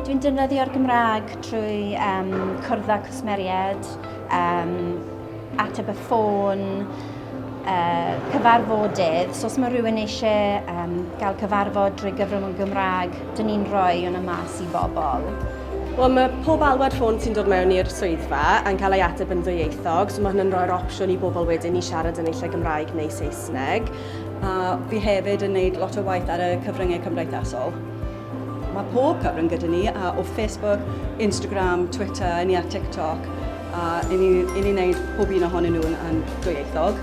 Dwi'n defnyddio'r Gymraeg trwy um, cwrdd â cwsmeriaid, um, ateb y ffôn, uh, cyfarfodydd. So os mae rhywun eisiau um, gael cyfarfod drwy gyfrwng y Gymraeg, dyn ni'n rhoi hwnna mas i bobl. Wel, mae pob alwad ffôn sy'n dod mewn i'r swyddfa yn cael ei ateb yn ddwyieithog, so mae hynny'n rhoi'r opsiwn i bobl wedyn i siarad yn eisiau Gymraeg neu Saesneg. A fi hefyd yn neud lot o waith ar y cyfryngau cymdeithasol. Mae pob cyfrwng gyda ni, a o Facebook, Instagram, Twitter, i ni ar TikTok, a i ni, i ni wneud pob un ohonyn nhw'n yn dwyieithog.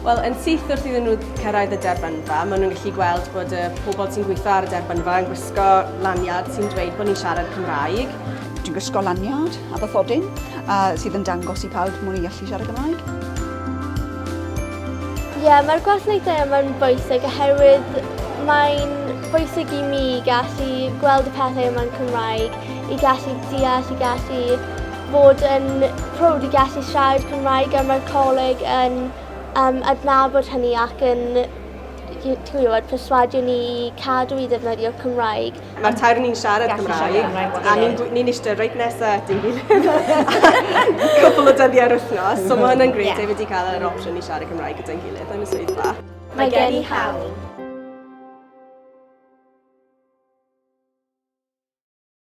Wel, yn syth wrth iddyn nhw cyrraedd y derbynfa, maen nhw'n gallu gweld bod y pobl sy'n gweithio ar y derbynfa yn gwisgo lanyard sy'n dweud bod ni'n siarad Cymraeg. Dwi'n gwisgo lanyard a bathodyn a sydd yn dangos i pawb mod i'n gallu siarad Cymraeg. Ie, mae'r gwasanaethau yma'n bwysig oherwydd mae'n bwysig i mi gallu gweld y pethau yma'n Cymraeg, i gallu deall, i gallu bod yn prowd i gallu siarad Cymraeg a mae'r coleg yn um, adnabod hynny ac yn ti'n gwybod, perswadio ni i cadw i ddefnyddio Cymraeg. Mae'r tair ni'n siarad Cymraeg a ni'n ni'n eistedd reit nesa at ein gilydd cwpl o dyddiau ar wythnos. So mae hwnna'n grêt, yeah. wedi cael yr opsiwn i siarad Cymraeg gyda'n gilydd yn y swyddfa. Mae gen i hawl.